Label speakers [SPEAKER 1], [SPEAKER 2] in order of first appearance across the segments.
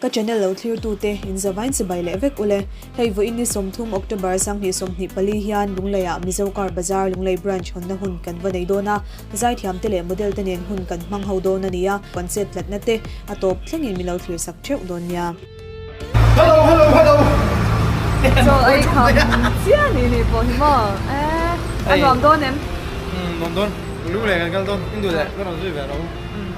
[SPEAKER 1] Ka channel lo thlirtu te in zavain chibai leh vek ule. Hei vawiin ni sawmthum October sanghnih sawmhnih pali hian Lunglei ah Mizo Car Bazar Lunglei Branch hawnna hun kan va nei dawn a, zaithiam te leh model te nen hun kan hmang ho dawn a ni a, kan chet tlatna te a tawp thleng in min lo thlir sak theuh dawn nia. Hello hello hello Chaw ei kha chiah ni ni pawh hi maw eh a nuam dawn em? Umm nuam dawn Lunglei kan kal dawn in duh leh ka rawn zui ve lo.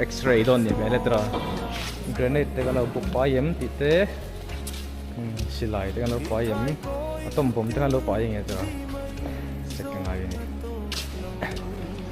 [SPEAKER 1] X-ray dawn nih hmel e tura granite te kan lo buk pai em tih te silai te kan lo pai em atom bomb te kan lo pai nge tura sek ka ngai a ni.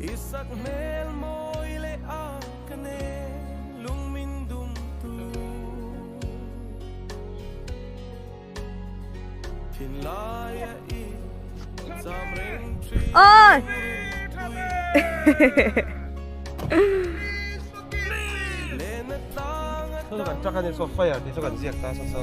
[SPEAKER 1] I sak hmel mawi leh a ka nen lung min dum tu Thin lai a i zam reng tri Oi Len a tlang a tang Kan trak a ni so fire ti chu kan ziak ta sa so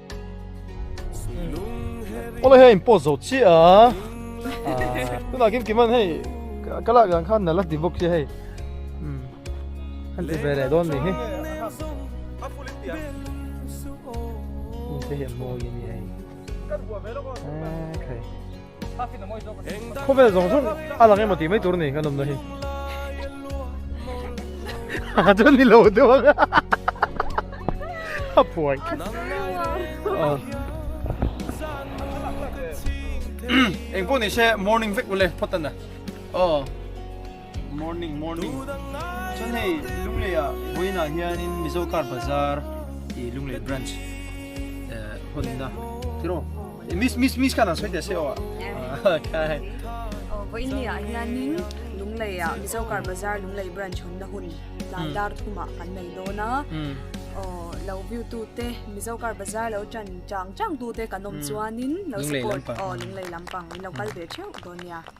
[SPEAKER 1] Ola hei in post zo chiah a. Tuna kim kiman hei ka lak dan khan nala ti bawk che hei. Kan ti ve leh dawn ni hi. Inse hian mawi a ni hei. Kan hua ve lawk a. Khei. Khawvel zawng zawng a lang emaw tih mai tur a ni kan awmna hi. Ha chuan ni lo deuh ang a phuai. Eng pawh ni se morning vek ule phawt tan a. Aw. Morning morning. Chuan hei Lunglei ah Vawiin ah hian in Mizo Car Bazaar i Lunglei branch eh hun na. Tiro. Eh, miss miss miss kan sawi tia se aw. Ah, kai. Vawiin hi ah hian in Lunglei ah Mizo Car Bazaar Lunglei branch hun na hun tlai dar thum ah kan nei dawn a. Oh, lo view tu te Mizo Car Bazaar lo tan chang chang tu te kan awm chuan in lo support oh Lunglei lampang in lo kal ve theuh dawn nia.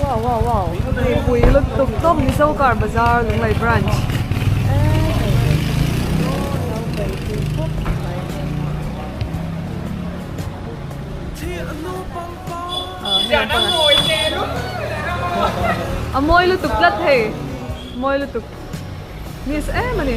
[SPEAKER 1] Wow, wow, wow. Hei pui lut tuk tuk Mizo Car Bazaar Lunglei Branch. A mawi lutuk tlat hei mawi lutuk nice em a ni.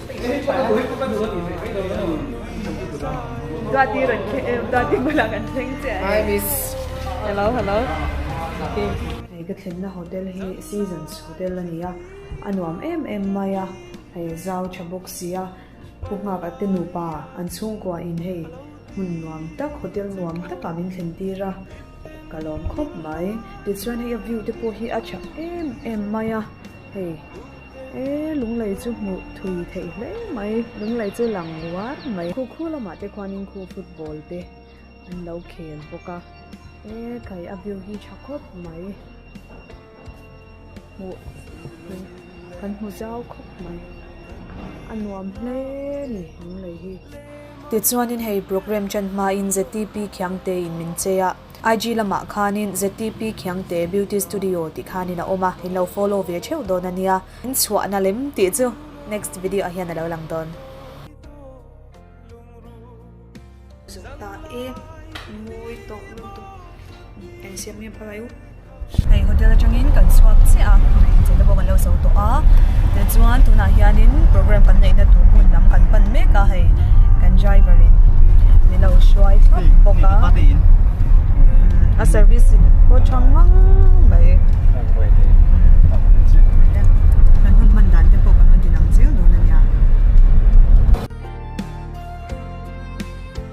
[SPEAKER 1] Hei ka thlenna hotel hi seasons hotel a ni a a nuam em em mai a hei zau tha bawk sia pu nghak te nupa an chhungkua in hei hmun nuam tak hotel nuam tak ah min thlen tir a ka lawm khawp mai tichuan hei a view te pawh hi a tha em em mai a hei. e lunglei chu hmuh thui theih hle mai lunglei chu lang uar mai khu khu lamah te khuanin khu football te an lo khel bawk a e kai a view hi tha khawp mai hmuh theih kan hmu zau khawp mai a nuam hle ni lunglei hi tichuanin hei programme tan hmain ZTP khiangte in min chei a. IG lamah khanin ZTP Khiangte Beauty Studio tih khanin a awm a, in lo follow ve theuh dawn a nia. In chhuahna lem tih chu next video ah hian a lo lang dawn. Zawh ta e, mawi tawh lutuk. Engsiam nge phalai u. Hei hotel atangin kan chhuak chiah a tui chenna bawk an lo sawi tawh a tichuan tunah hianin programme kan neihna tur hmun lam kan pan mek a hei kan driver in ni lo hruai thawk bawk a a service hi pawh a chang mang mai kan hun hman dan te pawh kan rawn din ang chiang dawn a nia.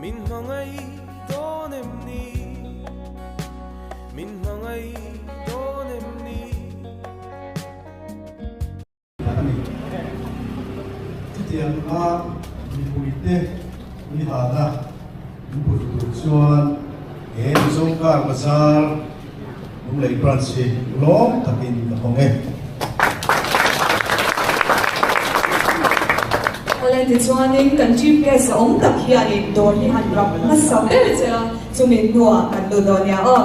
[SPEAKER 1] Min hmangaih dawn em ni Min hmangaih dawn em ni Chutiang a mipui te ni hana min put tur chuan he mizo kar bazar. Lunglei Branch hi lawm takin ka hawng e. Hale tichuanin kan GPS a awm tak hianin dawr hi han ram hmasa ber che a, chumi hnuah kan duh dawn nia aw.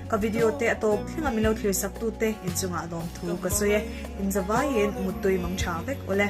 [SPEAKER 1] Ka video te a tawk thleng a min lo thlir sak tu te in chungah lawm thu ka sawi e, in zavai in mut tui mang tha vek aw le.